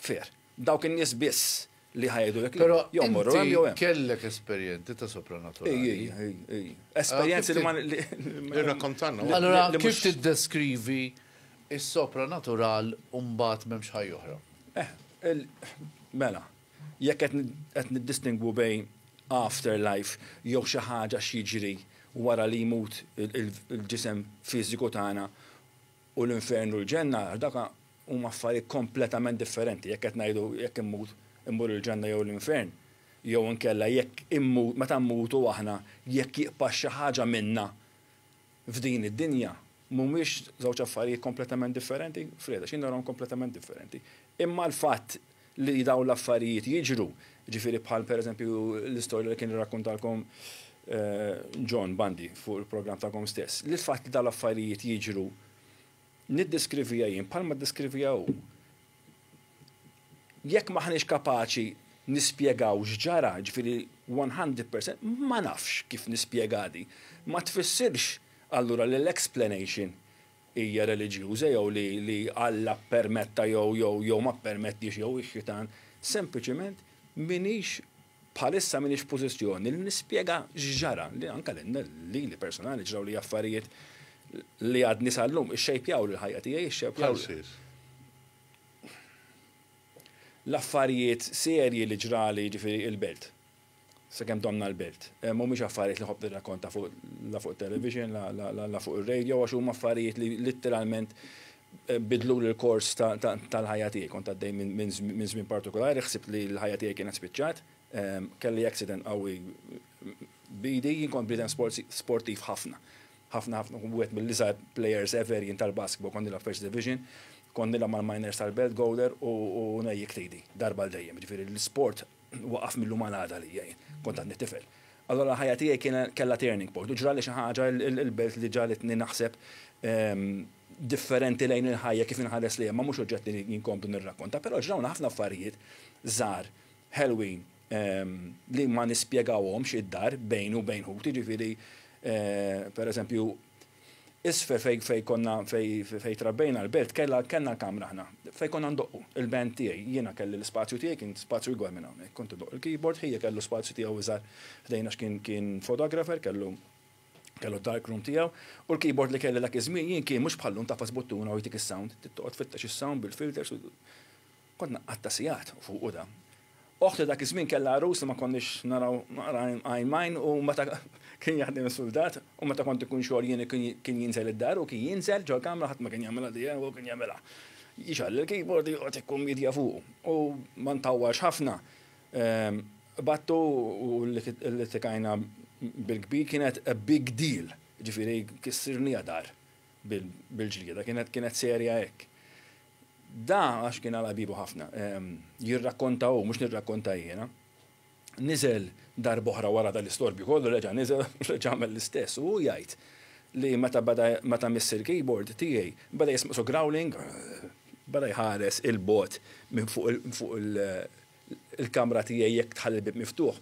Fair. Dawk in-nies biss li ħa jgħidulek le. Jew mmorru hemm jew hemm. Però inti kellek esperjenzi ta' sopranaturali. Ej, ej, ej, ej. Esperjenzi li ma. Irrakkontalna wkoll. Allura kif tiddeskrivi s-sopranatural u mbagħad m'hemmx ħajja oħra? Eh, mela. Jekk qed qed niddistingwu bejn after life jew xi ħaġa x'jiġri wara li jmut il-ġisem fiżiku tagħna u l-infern u l-ġenna għax dawk huma affarijiet kompletament differenti jekk qed ngħidu jekk immut immur il-ġenna jew l-infern jew inkella jekk immut meta mmutu aħna jekk jibqa' xi ħaġa minna f'din id-dinja mhumiex żewġ affarijiet kompletament differenti? Fred, Għax jien narahom kompletament differenti. Imma l-fatt li dawn l-affarijiet jiġru, jiġifieri bħal pereżempju l-istorja li kien irrakkuntalkom John Bandi fuq il-programm tagħkom stess, li l-fatt li dawn l-affarijiet jiġru niddeskrivija jien bħalma ddeskrivija hu. Jekk m'aħniex kapaċi nispjegaw x'ġara, jiġifieri one hundred percent, ma nafx kif nispjegha di. Ma tfissirx allura li l-explanation hija reliġjuża jew li li Alla ppermetta jew jew jew ma ppermettiex jew ix-xitan, sempliċement m'inhix Bħalissa m'iniex f'pożizzjoni li nispjega x'ġara, li anke lili personali ġrawli affarijiet li għadni sal-lum ixxejpjaw lill-ħajja tiegħi, ixxejpjaw. Bħal xiex? L-affarijiet serji li ġrali, jiġifieri il-Belt. Sakemm domna l-Belt. Mhumiex affarijiet li nħobb nirrakkonta la fuq it-television, la fuq ir-radio għax huma affarijiet li litteralment Biddluli l-kors tal-ħajja tiegħi. Kont għaddej minn żmien partikulari, ħsibt li l-ħajja tiegħi kienet spiċċat. Kelli accident qawwi b'idi. Jien kont bniedem sportiv ħafna. Ħafna ħafna. Kont wieħed mill-iżgħar players ever jien tal-basketball. Kont nilgħab first division. Kont nilgħab mal-minors tal-belt, Gowler, u ngħejjikt idi. Darba għal dejjem. Jiġifieri l-isport waqaf mil-lum għal għada għalija jien. Kont għadni tifel. Allura l-ħajja tiegħi kellha turning point u ġrali xi ħaġa l-belt li ġagħlitni naħseb differenti lejn il-ħajja kif inħares lejha, imma mhux oġġett li nkompli nirrakkonta. Però ġrawna ħafna affarijiet żgħar ħelwin li ma nispjegawhomx id-dar bejni u bejn ħuti, jiġifieri pereżempju, Isfel fejn fejn konna fejn fejn trabbejna l-belt kellha kellna kamra aħna fejn konna ndoqqu, il-band tiegħi, jiena kelli l-ispazju tiegħi kien spazju ikbar minn hawnhekk, kont indoqq il-keyboard, Ħija kellu spazju tiegħu iżgħar ħdejna għax kien kien photographer kellu kellu d-dark room tiegħu, u l-keyboard li kelli dak iż-żmien jien kien mhux bħal llum tagħfas buttuna u jtik is-sound, trid toqgħod tfittex is-sound bil-filters u. Kont nqatta' sigħat fuqu dan. Oħti dak iż-żmien kellha għarus li ma konniex naraw għajn m'għajn u meta kien jaħdem is-suldat u meta kont ikun xogħol jien kien jinżel id-dar u kien jinżel ġol-kamra ħadd ma kien jagħmilha di u kien jagħmilha. Jixgħel il-keyboard u joqgħod ikkummitja fuqu u ma ntawwalx ħafna qbadtu u ltiqajna bil-kbir kienet a big deal jiġifieri kissirniha dar bil-ġlieda kienet serja hekk. Da għax kien għala biebu ħafna. Jirrakkonta hu, mhux nirrakkonta jiena. Niżel darb'oħra wara dal-istorbju kollu reġa' niżel u reġa' għamel l-istess u hu jgħid li meta bada meta miss il-keyboard tiegħi bada jismgħsu growling bada jħares 'il bogħod minn fuq il il-kamra tiegħi jekk tħalli l-bieb miftuħ,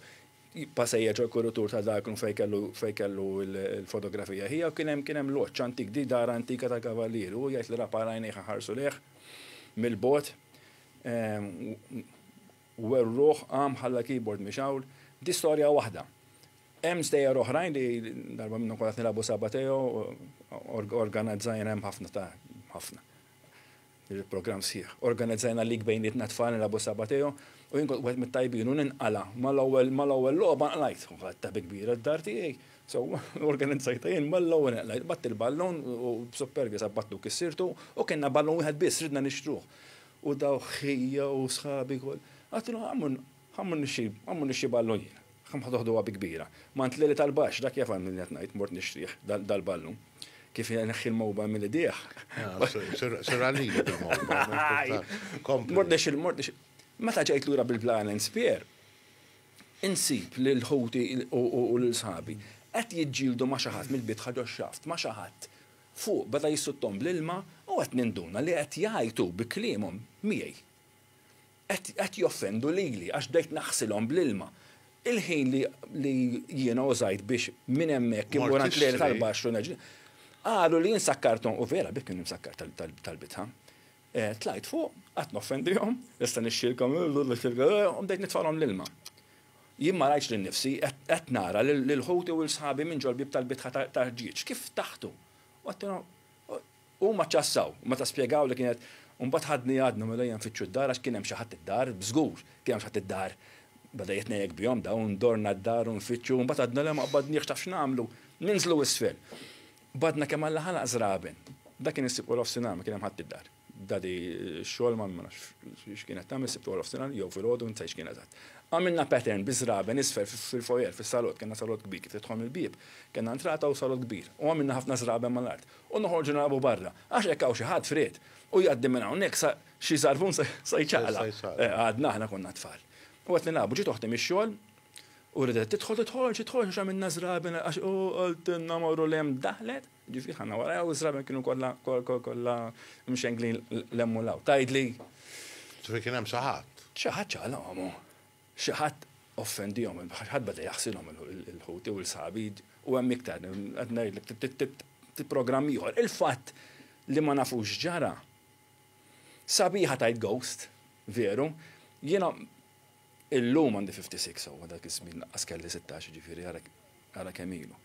passejja ġol kurutur ta' dark room fejn kellu fejn kellu l-fotografija ħija u kien hemm kien hemm loġġ antik di dar antika tal-kavallieri u jgħid li rafa' għajnejh iħarsu lejh mill-bogħod u werruh qam ħalla l-keyboard miex hawn. Di storja waħda. Hemm stejjer oħrajn li darba minnhom kont qed nilagħbu sabateo organizzajna hemm ħafna ta' ħafna. Il-programm sħiħ. Organizzajna league bejnietna t-tfal nilgħab u s-Sabba Teo u jien kont wieħed mit-tajbin u ninqala' mal-ewwel mal-ewwel logħba nqlajt. U ħadtha bi kbira d-dar tiegħi. So organizzajtha jien mal-ewwel nqlajt. Bgħatt il-ballun u b'suppervja sabbattu u kissirtu u kellna ballun wieħed biss ridna nixtruh. U dawk ħija u sħabi kol. Għattilhom, Għammu, Ħa mmnixxi, ħa mmnixxi ballun jien. Ħa nħdoħdoha bi kbira. Ma ntleli tal-baxx, dak jaf għalmin qed ngħid, mort nixtrih, dal-ballun. Kif ineħħi l-mowba mill-idejh. Sir għalili bil-mowba. Kompli. Mort nixxi, mort nixxi. Meta ġejt lura bil-Blanens Pier, insib lil ħuti u lil sħabi qed jiġġieldu ma' xi ħadd mill-bitħa ġox-xaft, ma' xi ħadd. Fuq beda jissuttom bl-ilma u qed ninduna li qed jgħajtu bi kliemhom miegħi. Qed joffendu lili għax bdejt naħsilhom bl-ilma. Il-ħin li jiena użajt biex minn hemmhekk immur għand l-għerien tal-baxx u nerġa'. Qalu li jien sakkarthom, u vera bih kien imsakkar tal-bitħa. Tlajt fuq, qatt noffendihom, issa nixxielkom, u bdejt nitfagħlhom l-ilma. Jien ma rajtx lil nnifsi, qed nara lil ħuti u lil sħabi minn ġol-bieb tal-bitħa ta' ħġieġ kif taħtu. U għedtilhom, Huma ċassaw, u meta spjegaw li kienet U mbagħad ħadni għadna mlejja nfittxu d-dar għax kien hemm xi ħadd id-dar, b'żgur, kien hemm xi ħadd id-dar. Beda jitnejjek bihom daw, ndorna d-dar u nfittxu, u mbagħad għadna le ma qbadniex taf x'nagħmlu? Ninżlu isfel. Qbadna kemm Alla ħalaq żraben. Dak kien is-Sibt warofsinhar, ma kien hemm ħadd id-dar. Dadi x-xogħol ma nafx x'kienet tagħmel is-Sibt warofsinhar jew filgħodu ma nsejtx x'kienet għad. Għamilna pattern bi żraben isfel fil-foyer, fis-salott, kellna salott kbir kif tidħol mill-bieb, kellna entrata u salott kbir, u għamilna ħafna żraben mal-art. u noħorġu nilagħbu barra, għax hekk hawn xi ħadd f'ried u jgħaddi minn hawnhekk sa xi żarfun se jċaqla'. Għadna aħna konna tfal. U qed nilagħbu ġiet oħti mix-xogħol u ridet tidħol tidħolx tidħolx għax għamilna żraben għax u qaltilna morru li hemm daħlet, ġifieri ħanna warajha u żraben kienu kollha kollha mxenglin l-hemm u l-hawn. Tgħidli. Ġifieri kien hemm xi ħadd. Xi ħadd ċaqla għomu. Xi ħadd offendihom, xi ħadd beda jaħsilhom il-ħuti u l-sħabi u hemm iktar, qed ngħidlek ftit programm ieħor. Il-fatt li ma nafux x'ġara. Sabiħa tgħid ghost, veru. Jiena illum għandi 56 sewwa dak iż-żmien lanqas kelli sittax jiġifieri ara kemm ilu.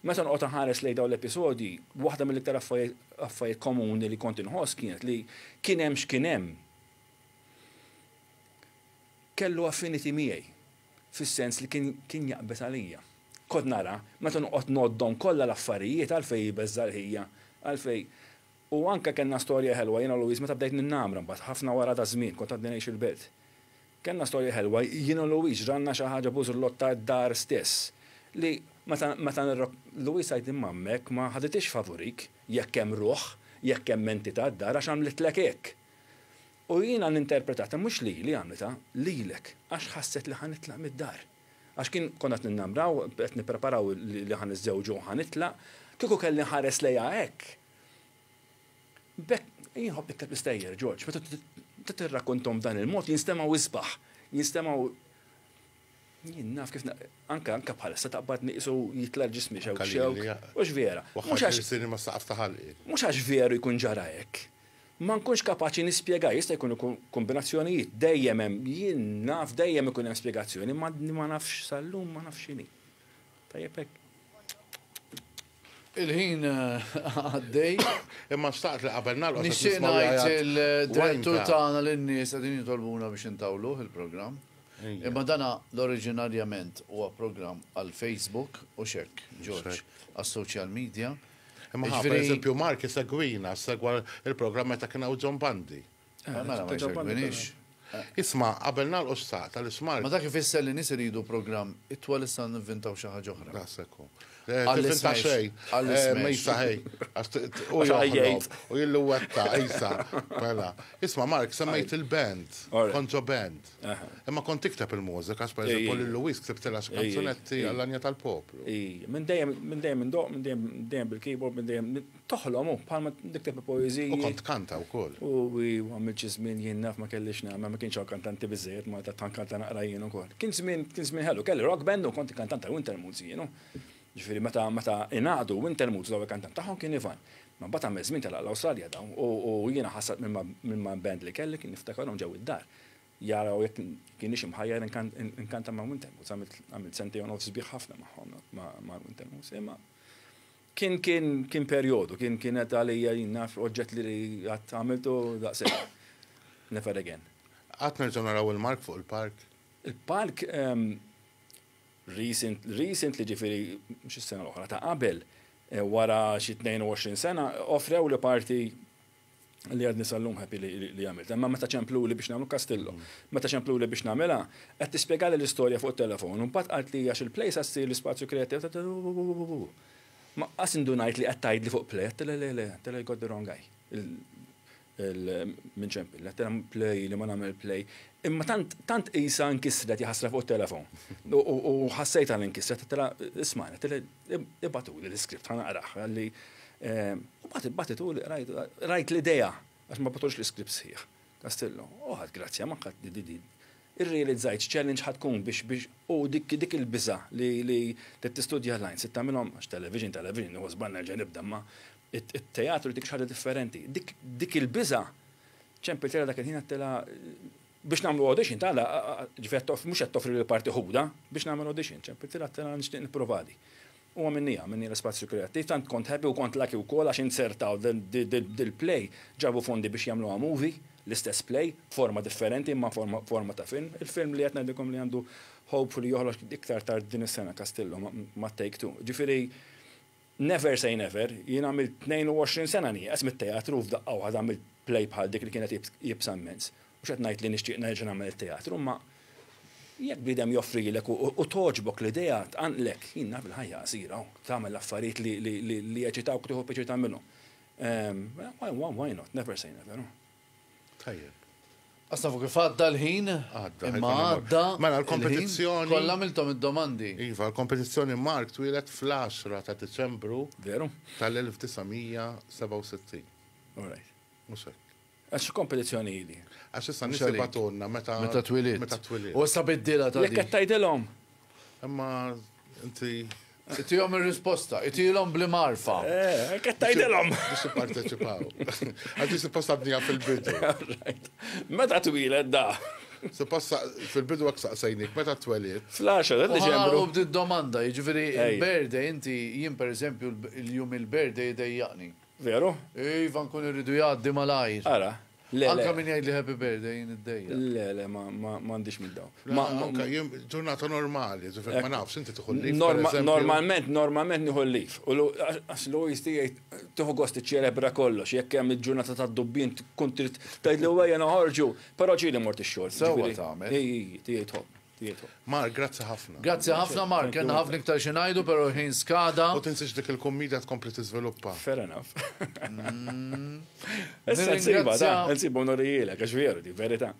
Meta noqgħod inħares lejn dawn l-episodji, waħda mill-iktar affarijiet komuni li kont inħoss kienet li kien hemm x'kien hemm. Kellu affinity miegħi, fis-sens li kien kien jaqbeż għalija. Kont nara, meta noqgħod ngħoddhom kollha l-affarijiet għalfejn jbeżża' l-ħija, għalfejn. U anke kellna storja ħelwa jiena u Louise meta bdejt ninnamra mbagħad, ħafna wara ta' żmien, kont għadni ngħix il-Belt. Kellna storja ħelwa jien u Louise, ġralna xi ħaġa bużrlotta d-dar stess, li meta meta nirrok. Louise tgħid li m'għammek ma ħaditiex favurik jekk hemm ruħ, jekk hemm entità d-dar għax għamlitlek hekk. U jiena ninterpretata mhux lili għamlitha, lilek, għax ħasset li ħa nitlaq mid-dar. Għax kien konna qed ninnamraw, qed nippreparaw li ħa niżżewġu u ħa nitlaq, kieku kelli nħares lejha hekk. B'hekk, jien nħobb nikteb l-istejjer, George, meta tirrakkonthom b'dan il-mod jinstemgħu isbaħ, jinstemgħu Jien naf kif anka anka bħalissa taqbadni qisu jitla' ġismi xewk xewk. Mhux vera. Mhux għax irsini mas-saqaf ta' ħalqi. Mhux għax veru jkun ġara hekk. Ma nkunx kapaċi nispjegah, jista' jkun ikun kombinazzjonijiet, dejjem hemm, jien naf dejjem ikun hemm spjegazzjoni, imma ma nafx sal-lum ma nafx x'inhi. Tajjeb hekk. Il-ħin eh, għaddej. Imma xtaqt li qabel nagħlqu. Nixtieq ngħid il-direttur tagħna lin-nies qegħdin jitolbuna biex intawluh il-programm. Imma dana l-oriġinarjament huwa programm għal Facebook u xek, George, għas-social media. Imma per eżempju Mark segwina, segwa il-programm meta kien hawn John Bandi. Eh, mela ma jservinix. Isma, qabel nagħlqu s-saq tal-ismar. Ma dak ifisser li nies iridu programm itwal issa nivvintaw xi ħaġa oħra. Nasekku. Eh, Għall-isma xej. Għall-isma. Eh, Mejsa ħej. U jgħid. U jillu wetta, Isa. Mela. Isma, Mark, semmejt il-band. Konġo band. Imma kont tikteb il-mużika, per eżempju, lil Luis ktibtilha xi kanzunetti għall-anja tal-poplu. Minn dejjem, minn dejjem, minn dejjem bil-keyboard, minn dejjem Toħlom hu, bħalma nikteb il-poeżiji. U kont tkanta wkoll. U għamilt xi żmien jien naf ma kellix nagħmel, ma kienx hawn kantanti biżżejjed Malta tant kanta naqra jien ukoll. Kien żmien kien żmien ħelu, kelli rock band u kont il-kantant ta' Wintermoods jien hu. Ġifieri meta meta ingħaqdu Wintermoods l-ewwel kantant tagħhom kien Ivan. Ma mbagħad għamel żmien telaq l-Awstralja dawn u u jiena ħassart mill-man band li kelli kien niftakarhom ġew id-dar jaraw jekk kienix imħajjar inkanta ma' Wintermoods. Għamilt għamilt sentejn u nofs sbieħ ħafna magħhom ma' Wintermoods imma Kien kien kien perjodu, kien kienet għalija jien naf oġġett li qatt għamiltu daqshekk. Never again. Qatt nerġgħu naraw il-mark fuq il-park? Il-park ehm recent recently ġifieri mhux is-sena l-oħra ta' qabel wara xi 22 sena offrewli parti li għadni sal-lum happy li għamilt. Imma meta ċempluli biex nagħmlu Castillo, meta ċempluli biex nagħmilha, qed tispjegali l-istorja fuq it-telefon, u mbagħad qalt li għax il-plejsa ssir l-ispazju kreattiv, ma qas indunajt li qed tgħidli fuq play, għedtilha le le, għedtilha you got the wrong guy. Minn ċempil, għedtilha play li ma nagħmel play. Imma tant tant qisha nkisret jaħasra fuq it-telefon. U ħassejtha li nkisret, għedtilha isma' għedtilha Ibatuli l-iskript ħa naqrah għalli mbagħad ibatituli rajt l-idea għax ma batux l-iskript sħiħ. Kastillo, oħad grazzja ma ħadd di di. Irrealizzajt challenge ħad tkun biex biex u dik dik il-biża li li tistudja lines se tagħmilhom għax television television nieħu żball nerġa' nibda ma it-teatru dik xi ħaġa differenti. Dik il-biża ċempiltilha dak il-ħin għedtilha biex nagħmlu audition ta' la, ġifieri mhux qed toffri lil parti ħuda biex nagħmel audition, ċempilti la tela nixtieq nipprovadi. U għamilni għamilni l-ispazju kreattiv, tant kont happy u kont laki wkoll għax inzertaw dil-play, ġabu fondi biex jagħmluha movie, l-istess play, b'forma differenti imma forma ta' film. Il-film li qed ngħidilkom li għandu hopefully joħroġ iktar tard din is-sena Castillo ma' Take Two. Ġifieri, Never say never, jien għamilt 22 sena nieqes mit-teatru u f'daqqa waħda għamilt play bħal dik li kienet iebsa mmens. Mhux qed ngħid li nixtieq nerġa' nagħmel it-teatru imma jekk bniedem joffrilek u togħġbok l-idea tqanqlek, jien naf il-ħajja qasira u tagħmel l-affarijiet li jeċitawk u tieħu pjaċir tagħmilhom. Why not, never say never. Tajjeb. Għax tafu kif għadda l-ħin. Għadda. Imma għadda. Mela l-kompetizzjoni. Kollha għamilthom id-domandi. Iva, l-kompetizzjoni Mark twieled fl-10 ta' Diċembru. Veru. Tal-1967. All right. Mhux hekk. Għax x'kompetizzjoni hi di? Għax issa n-nies jibagħtulna meta. Meta twilidt. Meta twilidt. U issa biddilha ta' din. Jekk qed tgħidilhom. Imma inti. Itihom ir-risposta, itilhom bli marfa. Eh, qed tgħidilhom. Biex jipparteċipaw. Għax din supposta bnija fil-bidu. Meta twiled da? Supposta fil-bidu hekk saqsejnik, meta twelid? Fl-10 ta' Diċembru. U bdiet domanda, jiġifieri il-berde inti jien pereżempju l-jum il-berde jdejjaqni. Veru? Iva nkun irridu jgħaddi malajr. Ara. Le, Anka min jgħidli happy birthday jien id-dejja. Le, le, m'għandix minn dawn. Ma anka jien ġurnata normali, ġifier ma nafx inti tieħu lif. Normalment, normalment nieħu lif. U għax Louis tgħid tieħu gost iċċelebra kollox, jekk hemm il-ġurnata tad-dubbin tkun trid tgħidlu ejja noħorġu, però ġieli mort ix-xogħol. Sewwa tagħmel. Ejji, tgħid Mark, grazzi ħafna. Grazzi ħafna Mark, kellna ħafna iktar xi ngħidu però l-ħin skada. U tinsiex dik il-kummedja tkompli tiżviluppa. Fair enough. Issa nsibha da, nsibu nurijielek għax veru di verità.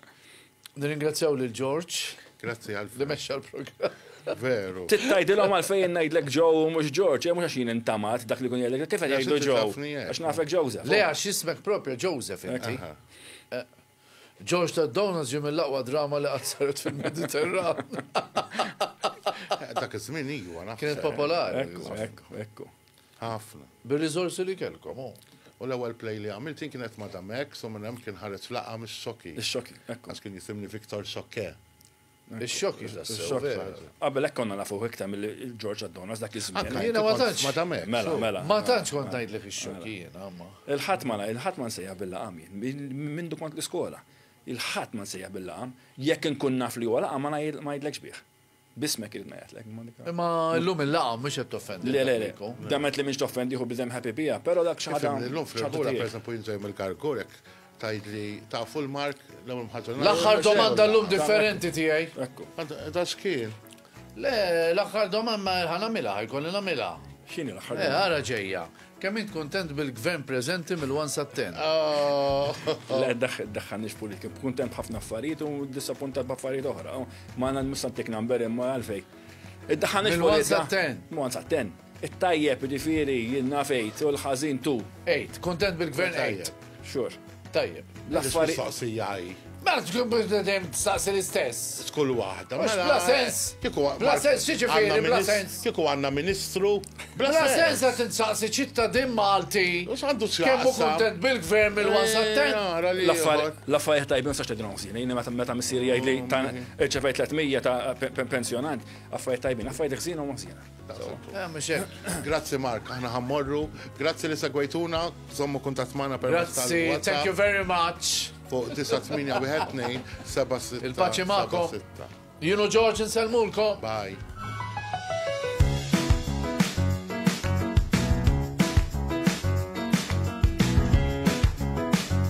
Nirringrazzjaw lil George. Grazzi għal li mexxa l-programm. Veru. Tittajdilhom għal fejn ngħidlek Joe u mhux George, mhux għax jien intamat dak li kun jgħidlek kif qed jgħidu Joe. Għax nafek Joseph. Le għax ismek propja Joseph inti. George Ted Downans ġie mill-aqwa drama li qatt saret fil-Mediterran. Dak iż-żmien iwa naħseb. Kienet popolari. Ekku, ekku, ekku. Ħafna. Bir-riżorsi li kellkom, hu. U l-ewwel play li għamilt jien kienet Madame X u minn hemm kien ħareġ laqgħa mix-xoki. Ix-xoki, ekku. Għax kien jisimni Victor Xokke. Ix-xokk jiex dassew vera. Qabel hekk konna nafuh iktar milli George Adonas dak iż-żmien. Anke jiena ma tantx. Ma tagħmel. Mela, mela. Ma tantx kont ngħidlek ix-xokk jiena, imma. Il-Ħadd ma il-Ħadd ma nsejjaħ bil-laqam jien, minn mindu kont l-iskola. Il-Ħadd ma nsejjaħ bil-laqam. Jekk inkun naf li huwa laqam ma ngħidlekx bih. B'ismek irid ngħidlek. Imma llum il-laqam mhux qed toffendi. Le, le, le. Demet li m'iniex toffendih u bniedem happy biha, però dak xi ħaġa. Illum fil-kura, pereżempju, jien żejjhom il-karkur hekk. Tgħidli tafu l-Mark l-ewwel mħaġa. L-aħħar domanda llum differenti tiegħi. Ekku. Da xkien. Le, l-aħħar domanda ħanamilha, ħajkolli nagħmilha. X'inhi l-aħħar eh, domanda? Ara ġejja. Kemm int kuntent bil-gvern preżenti mill-1 sa 10? Oh. Le, daħħan nix politika. Kuntent ħafna affarijiet u disappuntat b'affarijiet oħra. Ma għandna nistantik number imma għalfej. Id-daħħan nix politika. Mill-1 sa 10. Mill-1 sa 10. It-tajjeb, jiġifieri, jien naf għid, u l-ħażin tu. Għid. Kuntent bil-Gvern għid. Xhur. Tajjeb. L-affarijiet. Mistoqsija hi. Mela tkun biex dejjem tistaqsi l-istess. Skull waħda. Mhux bla sens. Kieku bla sens x'jiġifieri bla sens? Kieku għandna Ministru. Bla sens qed insaqsi ċittadin Malti. U x'għandu x'jaqsam? Kemm hu kuntent bil-Gvern mill-1 sat-10? L-affarijiet tajbin ma sax tgħidilhom ħżin. Jien meta missieri jgħidli irċevejt 300 ta' pensjonant, affarijiet tajbin, affarijiet ħżiena huma ħżiena. Eh, grazzi Mark, aħna ħammorru. Grazzi li segwejtuna, zommu kuntat maħna per Grazzi, thank you very much. Fuq 9-8-1-2-7-6. Il-paċi maħkom. Junu George nselmulkom. Bye.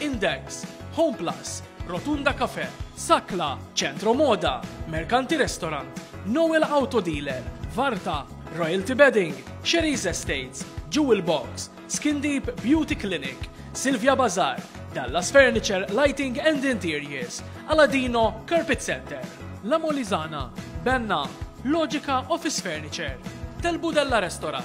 Index, Homeplus, Rotunda Cafe, Sakla, Centro Moda, Mercanti Restaurant, Noel Auto Dealer, Varta, Royalty Bedding, Sherry's Estates, Jewel Box, Skin Deep Beauty Clinic, Silvia Bazar, Dallas Furniture, Lighting and Interiors, Aladino Carpet Center, La Molizana, Benna, Logica Office Furniture, Telbudella Restaurant,